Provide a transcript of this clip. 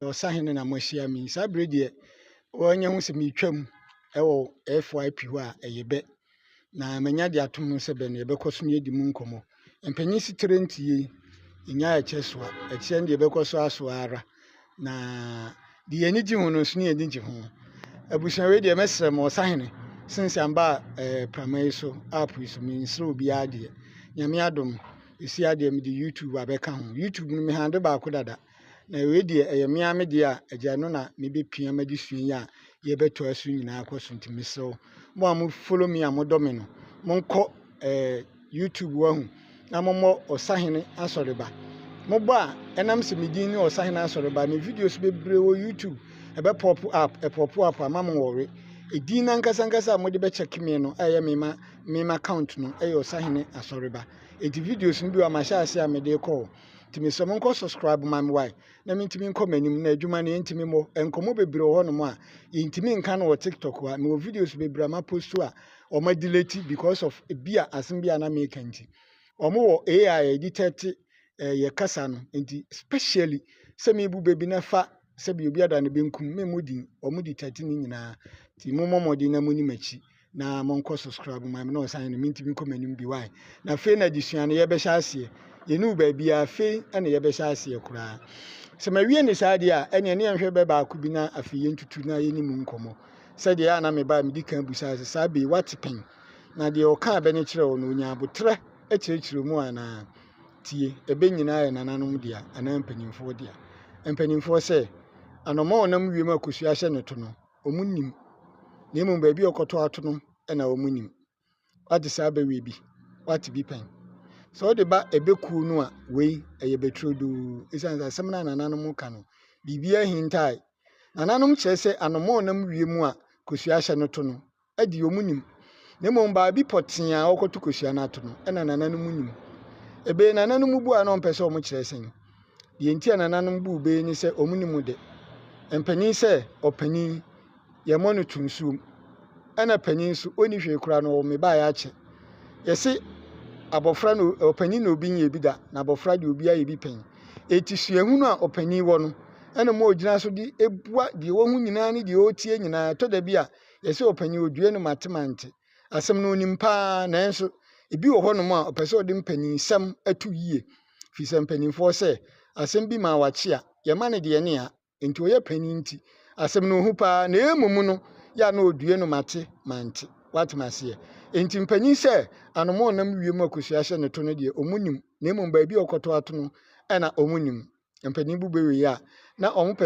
na ɔsahen no na moahyia me yi. Saa bere deɛ wɔanya hu sɛ meretwam wɔ FYP hɔ a ɛyɛ bɛ, na manya de atom ho sɛ bɛ no yɛbɛkɔ so ne adi mu nkɔmmɔ. Mpanyin setire nti yei nya ɛkyɛ soa, ɛkyerɛ no deɛ ɛbɛkɔ so asoa ara, na deɛ yɛn ani gye ho no nso ne yɛn ani gye ho. Abusua wei deɛ mɛsrɛ mo ɔsahene sense amba eh, prama yi so app yi so mensrɛ obiara deɛ. Nyame adom, ɛsi adeɛ mede YouTube abɛka ho. YouTube no mehande baako dada. Na wei deɛ ɛyɛ me ara me deɛ a agya no na mebɛpia madi sua yi a yɛbɛtoa so nyinaa kɔ so nti mesrɛ wo mo a mo follow me a modɔ me no monkɔ eh, youtube wahu na mommɔ ɔsahene asɔreba mobɔ a ɛnam sɛ medin ne ɔsahene asɔreba me videos bebree wɔ youtube ɛbɛpɔpo app ɛpɔpo app ama mo wɔre ɛdin no ankasa ankasa a mode bɛkyɛke me no ɛyɛ mema mema account no ɛyɛ ɔsahene asɔreba ɛti videos no bi wɔ mahyɛ ase a mede kɔɔ nti mesrɛ mo nkɔ subscribe ma me wae na mentumi nkɔ m'anim na adwuma no yɛntumi mmɔ nkɔmmɔ bebree wɔ hɔnom a yɛntumi nka no wɔ tiktok a mewɔ videos bebree a maposto a wɔn adelete because of ebi a asem bi a na meka nti wɔn wɔ ai a yɛde tɛte eh, yɛ kasa no nti specially sɛ mebu baabi na fa sɛbi obi ada ne benkum me mu din wɔn di tɛte ne nyinaa nti mommɔ mmɔden na moni m'akyi na mo nkɔ subscribe ma me na ɔsan no mentumi nkɔ m'anim bi wae na afei na adesua no yɛbɛhyɛ aseɛ yɛne wo baabiaa afei ɛna yɛbɛhyɛ aseɛ koraa sɛ mawie ne saa deɛ a ɛneɛ ne yɛnhwɛ bɛ baako bi na afei yɛntutu na yɛne mu nkɔmmɔ sɛdeɛ ɛa na mebaa medi kan bu saa sɛ saa bɛi wate pɛn na deɛ ɔkaa bɛ ne kyerɛ wo no ɔnya aboterɛ akyerɛkyerɛ mu anaa tie ɛbɛ nyinaa yɛ nananom dea anaa mpanimfoɔ dea mpanimfoɔ sɛ anɔma ɔnam wiem akɔsua hyɛ no to no wɔnnim, na mmom baabi a ɔkɔtɔ ato no na wɔnim. Woate saa bɛwɛ bi? Woate bi pɛn? Sɛ wode ba ɛbɛ kuo no a, wei ɛyɛ bɛturodoo. Ɛsiane sɛ asɛm no a nananom ka no, biribiara hintae. Nananom kyerɛ sɛ anomaa ɔnam wiem a kosua hyɛ no to no, deɛ wɔn nim, na mmom baabi pɔtee a wɔkɔto kosua no ato no na nananom nim. Ebe nananom bu a na wɔmpɛ sɛ wɔkyerɛ sɛn. Deɛ nti a nananom bu ebe ne sɛ wɔn nim de. Mpanin sɛ ɔpanin, yɛmmɔ no to nsuom. Ɛna panin nso, ɔnni hwee koraa na ɔwɔ mebaeɛ akyɛ. Yɛse abɔfra na ɔpanin na obi nyɛ bi da, na abɔfra deɛ obi ayɛ bi pɛn. Eti suahunu a ɔpanin wɔ no, ɛna ma ɔgyina so de bua deɛ wahu nyinaa ne deɛ ɔretie nyinaa. Ɛtɔ da bi a, Yɛse ɔpanyin odue no mate mante. Asɛm no onim paa nanso ebi wɔ hɔnom a ɔpɛ sɛ ɔde mpaninnsɛm to yie firi sɛ mpaninfoɔ sɛ asɛm bi maa wakye a yɛma no deɛ ne a nti ɔyɛ panin nti asɛm no ohu paa na ɛmom no yɛ a na ɔdue no mate mante wate maseɛ nti mpanin sɛ anoma ɔnam wiem akosua hyɛ ne to no deɛ ɔmu nim na mmom baabi a ɔkɔtɔ ato no ɛna ɔmu nim mpanin bu bɛwei a na ɔmo pɛ